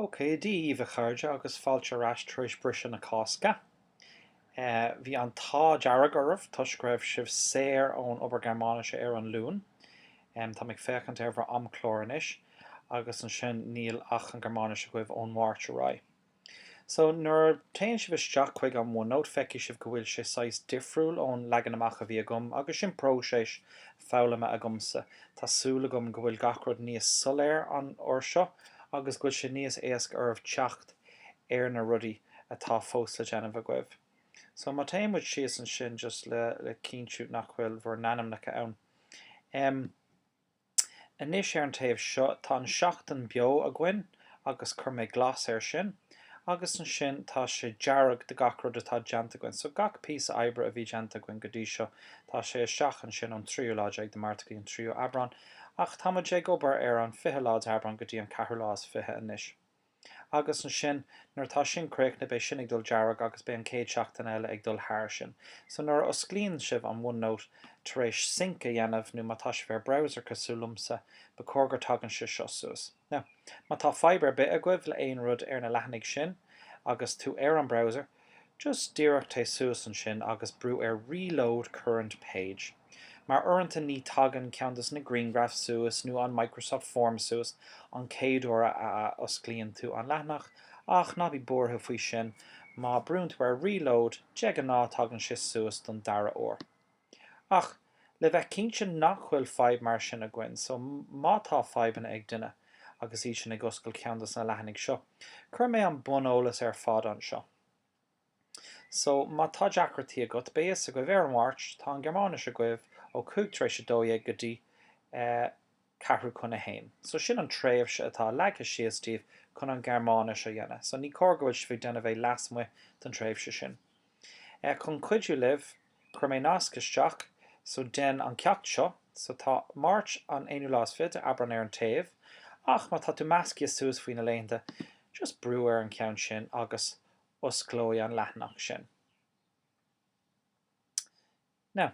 Ok, Dia dhaoibh a chairde agus fáilte ar ais tar éis briseadh na Cásca. Bhí an t-ádh dearg oraibh toisc go raibh sibh saor ón obair Gearmáinise ar an Luan. Tá mé ag féachaint ar bhur amchlár anois agus ansin níl ach an Gearmáinis agaibh ón Mháirt ar aghaidh. So, nuair a théann sibh isteach chuig an OneNote, feicfidh sibh go bhfuil sé saghas difriúil ón leagan amach a bhí agam, agus sin próiseas foghlama agamsa. Tá súil agam go bhfuil gach rud níos soiléir an uair seo, agus go bhfuil sé níos éasca oraibh teacht ar na rudaí atá fós le déanamh agaibh. So, má théann muid síos ansin just le cinntiú nach bhfuil bhur n-ainmneacha ann. Em. Anois ar an taobh seo tá an tseachtain beo againn agus chuir mé glas air sin agus ansin tá sé dearg do gach rud atá déanta againn so gach píosa oibre a bhí déanta againn go dtí seo tá sé isteach ansin an 3ú lá déag de Márta go dtí an 3ú Aibreán ach tá muid ag obair ar an 20 lá de Aibreán go dtí an ceathrú lá is fiche anois. Agus ansin, nuair atá sin críochnaithe, beidh sin ag dul dearg agus beidh an céad seachtain eile ag dul thar sin. So nuair a osclaíonn sibh an OneNote tar éis sync a dhéanamh nó má tá sibh ar browser cosúil liomsa, ba chóir gur tagann sé seo suas. Now, má tá fadhb ar bith agaibh le aon rud ar na leathanaigh sin agus tú ar an browser, Just díreach téigh suas ansin agus brú ar Reload Current Page. Mar uaireanta ní tagann ceann dos na griangraif suas nó an Microsoft Form suas an céad uair a a osclaíonn tú an leathanach ach ná bí buartha faoi sin, má brúnn tú ar Reload de ghnáth tagann sé suas don dara uair. Ach, le bheith cinnte nach bhfuil fadhb mar sin againn, so má tá fadhbanna ag duine agus iad sin ag oscailt ceann dos na leathanaigh seo, cuirfidh mé an buneolas ar fad anseo. So, má tá deacrachtaí agat, beidh fhios agaibh, ar an Máirt, tá an Ghearmáinis agaibh ó cúig tar éis a dó dhéag go dtí eh ceathrú chun a haon. So sin an tréimhse atá leagtha síos daoibh chun an Ghearmáinis a dhéanamh. So ní cóir go bhfuil sibh ag déanamh é leasmuigh don tréimhse sin. Chun cuidiú libh, chuir mé nasc isteach, so déan an ceacht seo, so tá Máirt an aonú lá is fiche de Aibreán ar an taobh, ach má tá tú measctha suas faoi na laethanta, just brú ar an cheann sin agus osclóidh an leathanach sin. Now,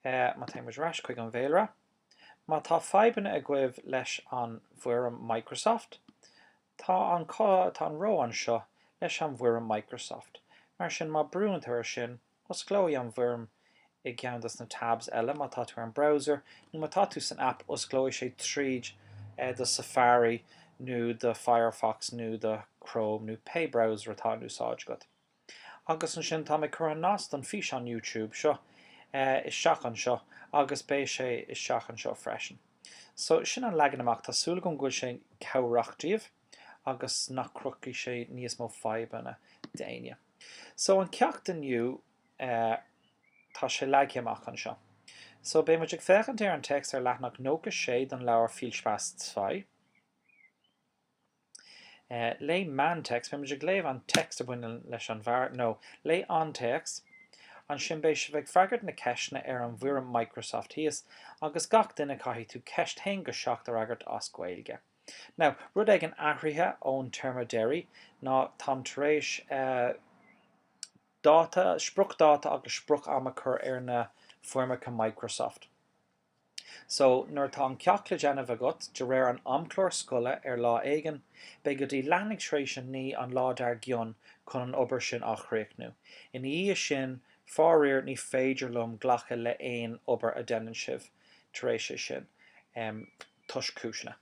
eh, má téimid ar ais chuig an bhféilire, má tá fadhbanna agaibh leis an bhfoirm Microsoft, tá an, tá an ró anseo leis an bhfoirm Microsoft. Mar sin, má brúann tú air sin, osclóidh an bhfoirm i gceann dos na tabs eile, má tá tú ar an browser, nó má tá tú san app, osclóidh sé tríd eh do Safari nó do Firefox nó do Chrome nó pé browser atá in úsáid agat. Agus ansin, táim ag cur an nasc don físeán YouTube seo isteach anseo agus beidh sé isteach anseo freisin. So, sin an leagan amach. Tá súil agam go bhfuil sé cabhrach díobh agus nach cruthóidh sé níos mó fadhbanna d'éinne. So, an ceacht inniu, tá sé leagtha amach anseo. So, beidh muid ag féachaint ar an téacs ar leathanach 96 don leabhar Viel Spass Zwei. Léigh an text, beidh muid ag léamh an text a bhaineann leis an bhfear, nó léigh An téacs, ansin beidh sibh ag freagairt na ceisteanna ar an bhfoirm Microsoft thíos, agus gach duine caithfidh tú ceist 1-7 a fhreagairt as Gaeilge. Now, rud éigin athraithe ón téarma deiridh ná táim tar éis dáta, spriocdáta agus sprioc-am a cur ar na foirmeacha Microsoft. So, nuair atá an ceacht le déanamh agat de réir an amchlár scoile ar lá éigin, beidh go dtí leathuair tar éis a naoi an lá dar gcionn chun an obair sin a chríochnú. Ina dhiaidh sin, faraor, ní féidir liom glacadh le haon obair a dhéanann sibh tar éis é sin, em, toisc cúiseanna.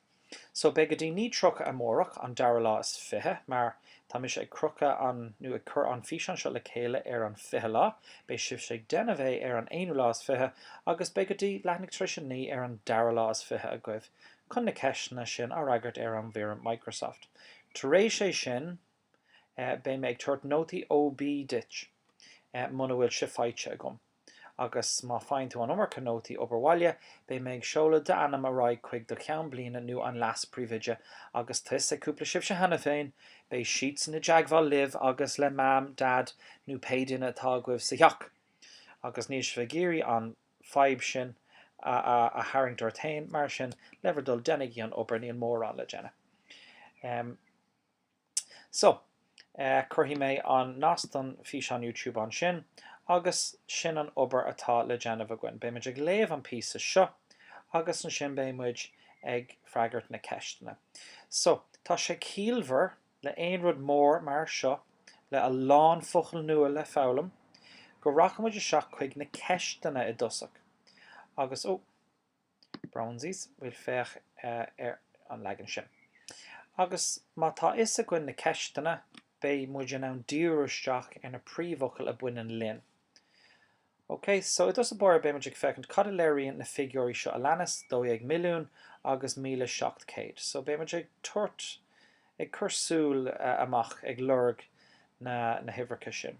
So, beidh go dtí naoi tríocha amárach, an dara lá is fiche, mar tá mise ag crochadh an, nó ag cur an físeán seo le chéile ar an fiche lá, beidh sibhse ag déanamh é ar an aonú lá is fiche, agus beidh go dtí, leathuair tar éis a naoi ar an dara lá is fiche agaibh chun na ceisteanna sin a fhreagairt ar an bhfoirm Microsoft. Tar éis é sin, eh, beidh mé ag tabhairt nótaí OB duit, eh, muna bhfuil sé faighte agam. agus má faigheann tú an iomarca nótaí obair bhaile, beidh mé ag seoladh d'ainm ar aghaidh chuig do cheann bliana nó an leas-príomhoide agus tá a fhios ag cúpla sibhse cheana féin, beidh siadsan i dteagmháil libh agus le Mam, Dad nó pé duine atá agaibh sa theach. Agus níl sibh ag iarraidh an fadhb sin a tharraingt ort féin, mar sin, le bhur dtoil, déanaigí an obair, níl mórán le déanamh. So, cuirfidh mé an nasc don físeán YouTube ansin agus sin an obair atá le déanamh againn. Beidh muid ag léamh an píosa seo agus ansin beidh muid ag freagairt na ceisteanna. So, tá sé ciallmhar le aon rud mór mar seo, le a lán focail nua le foghlaim, go rachaidh muid isteach chuig na ceisteanna i dtosach agus, oh, Brón orm, bhuel féach ar an leagan sin. Agus má tá a fhios againn na ceisteanna, beidh muid in ann díriú isteach ar na príomhfhocail a baineann linn. Ok, so i dtús báire beidh muid ag féachaint cad a léiríonn na figiúirí seo a leanas, 12 milliún agus 1,700. So beidh muid ag tabhairt, ag cur súil amach, ag lorg na huimhreacha sin.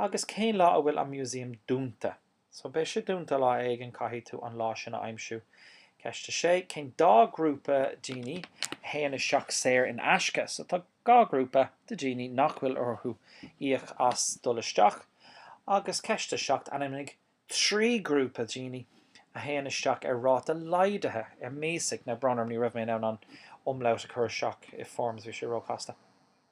Agus cén lá a bhfuil an Museum dúnta? So, beidh sé dúnta lá éigin, caithfidh tú an lá sin a aimsiú. Ceist 6, Cén dá grúpa daoine a théann isteach saor in aisce? So, tá dhá grúpa de dhaoine nach bhfuil orthu íoc as dul isteach. Agus ceist 7, Ainmnigh trí grúpa daoine a théann isteach ar ráta laghdaithe, ermäßigt. Now, brón orm, ní raibh mé in ann an umlaut a chur isteach i forms, bhí sé ró-chasta.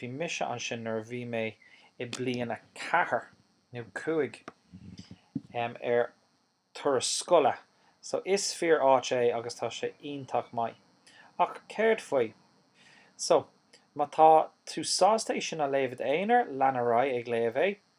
Bhí mise ansin nuair a bhí mé i bliain a ceathair nó cúig ar turas scoile so is fíor áit é agus tá sé iontach maith. Ach céard faoi. So, má tá tú sásta é sin a léamh i d'aonar, lean ar aghaidh ag léamh é.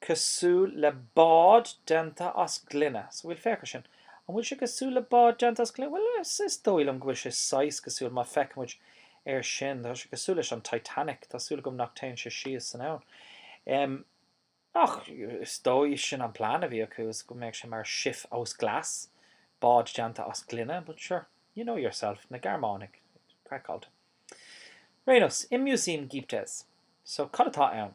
cosúil le bád déanta as gloine. So bhfuil, féach ar sin. An bhfuil sé cosúil le bád déanta as gloine? Bhuel, is dóigh liom go bhfuil sé saghas cosúil, má feicimid ar sin. Tá sé cosúil leis an Titanic. Tá súil agam nach téann sé síos san abhainn. Em. Ach, is dóigh sin an plean a bhí acu, is go mbeadh sé mar Schiff aus Glas, bád déanta as gloine, but sure, you know yourself, na Gearmánaigh, craiceáilte. Ar aon nós, im Museum gibt es. So, cad atá ann?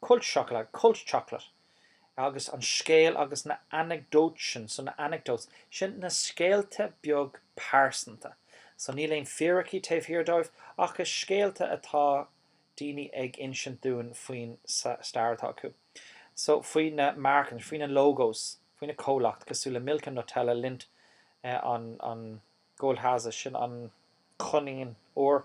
Kultscho, Kultschokolade, agus an scéal agus na Anekdötchen, so na anecdotes, sin na scéalta beag pearsanta, so níl aon fíricí taobh thiar dóibh ach is scéalta atá daoine ag insint dúinn faoin stair atá acu, so faoi na Marken, faoi na logos, faoi na comhlacht, cosúil le Milka, Nutella, Lindt, an Goldhase, sin an coinín óir.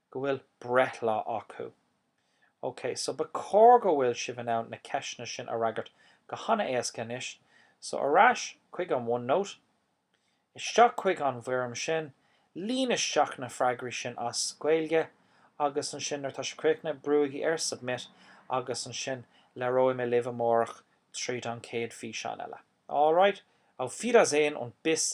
go bhfuil breithlá acu. OK, so ba chóir go bhfuil sibh in ann na ceisteanna sin a fhreagairt go han-éasca anois. So ar ais chuig an OneNote, isteach chuig an bhfoirm sin, líon isteach na freagraí sin as Gaeilge agus ansin nuair atá sibh críochnaithe, brúigí ar Submit agus ansin labhróidh mé libh amárach tríd an chéad físeán eile. Alright, auf Wiedersehen und bis